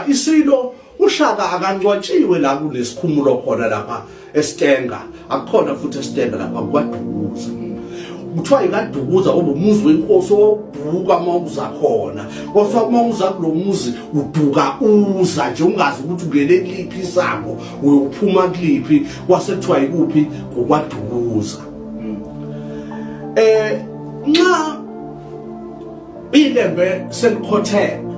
Isilo uShaka akancwatshiwe la kunesikhumulo khona lapha eStenga akukhona futhi eStenga lapha kwaDukuza kuthiwa yikadukuza obumuzi wenkosi owawubhuka uma uza khona kothiwa uma uza kulo muzi uduka uza nje ungazi ukuthi ungene kuliphi isango uyophuma kuliphi kwasekuthiwa yikuphi ngokwadukuza um nxa Ilembe selikhotheme.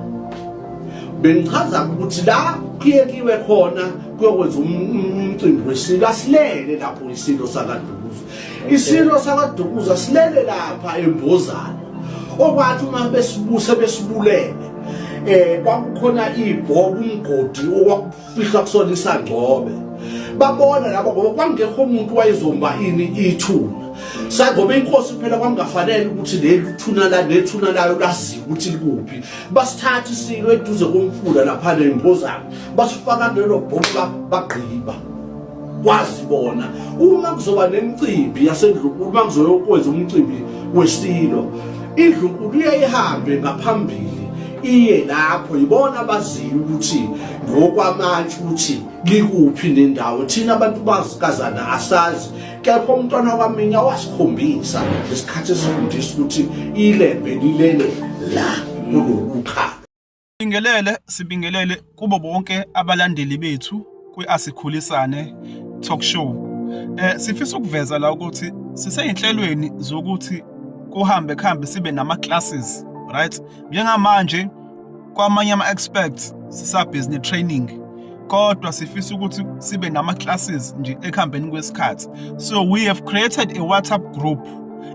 Bengichaza ukuthi la kuyekiwe khona kuyokwenza um-, umcimbi wesilo asilele lapho isilo sakadukuza. Isilo sakadukuza silele lapha embozana. Okwathi uma besibuse besibulele eh kwakukhona ibhobo umgodi fihla kusona isangcobe babona laba ngoba kwangekho umuntu wayezomba ini ithuna sangoba inkosi phela kwangafanele ukuthi leli thuna la nethuna layo laziwe ukuthi likuphi basithatha isilo eduze komfula lapha nembozana basifaka lelo bhomu bagqiba kwazi bona uma kuzoba nemicimbi yasendlunkulu uma kuzoyokwenza umcimbi wesilo indlunkulu iyayihambe ngaphambili iye lapho yibona abaziyo ukuthi ngokwamanje ukuthi likuphi nendawo thina abantu bazikazana asazi kepha umntwana kwaminya wasikhombisa ngesikhathi esifundisa ukuthi ilembe lilele la kulokukhala Sibingelele sibingelele kubo bonke abalandeli bethu kwi-Asikhulisane Talk Show. Eh sifisa ukuveza la ukuthi siseyinhlelweni zokuthi kuhambe kuhambe sibe nama classes, right? Njengamanje kwamanye ama experts sisa business training kodwa sifisa ukuthi sibe nama classes nje ekuhambeni kwesikhathi. So we have created a WhatsApp group.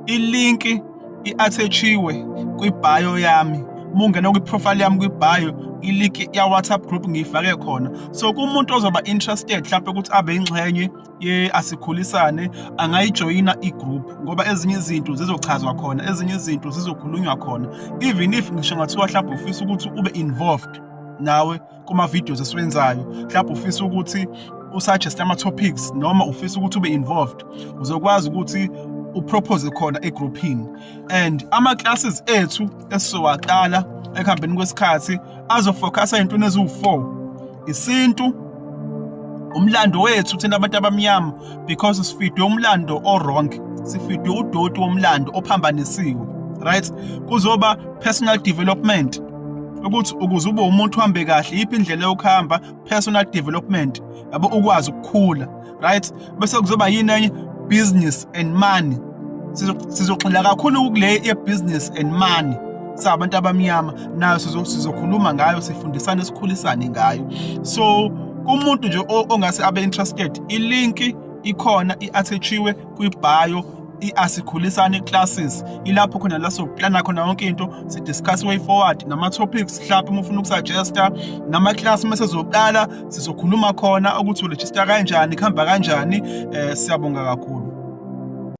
Ilinki i-athetshiwe kwibhayo yami uma ungena kwi-profile yami kwibhayo iliki ya-whatsapp group ngiyifake khona so kumuntu ozoba interested mhlawumpe ukuthi abe yingxenye ye-asikhulisane angayijoyina i-group ngoba ezinye izinto zizochazwa khona ezinye izinto zizokhulunywa khona even if ngisho ngathiwa mhlawumbe ufisa ukuthi ube involved nawe kuma-videos esiwenzayo mhlawumbe ufisa ukuthi usuggest ama-topics noma ufisa ukuthi ube involved uzokwazi ukuthi upropose khona egrouphini and ama-classes ethu esizowaqala ekuhambeni kwesikhathi azofocusa ey'ntweni eziwu-four isintu umlando wethu thina abantu abamnyama because sifidwe umlando o-wrong sifidwe udoti womlando ophambanisiwe right kuzoba personal development ukuthi ukuze ube umuntu uhambe kahle yiphi indlela yokuhamba personal development yabo ukwazi ukukhula right bese kuzoba yini enye business and money sizogxila kakhulu kule ye-business and money sabantu abamnyama nayo sizokhuluma ngayo sifundisane sikhulisane ngayo so kumuntu nje ongase abe interested ilinki ikhona i-athachiwe kwi-bio i-asikhulisane classes ilapho khona la sokuplana khona yonke into sidiscuss way forward nama-topics mhlawumbe uma ufuna ukusuggesta nama-class uma sezoqala sizokhuluma khona ukuthi uregista kanjani kuhamba kanjani um siyabonga kakhulu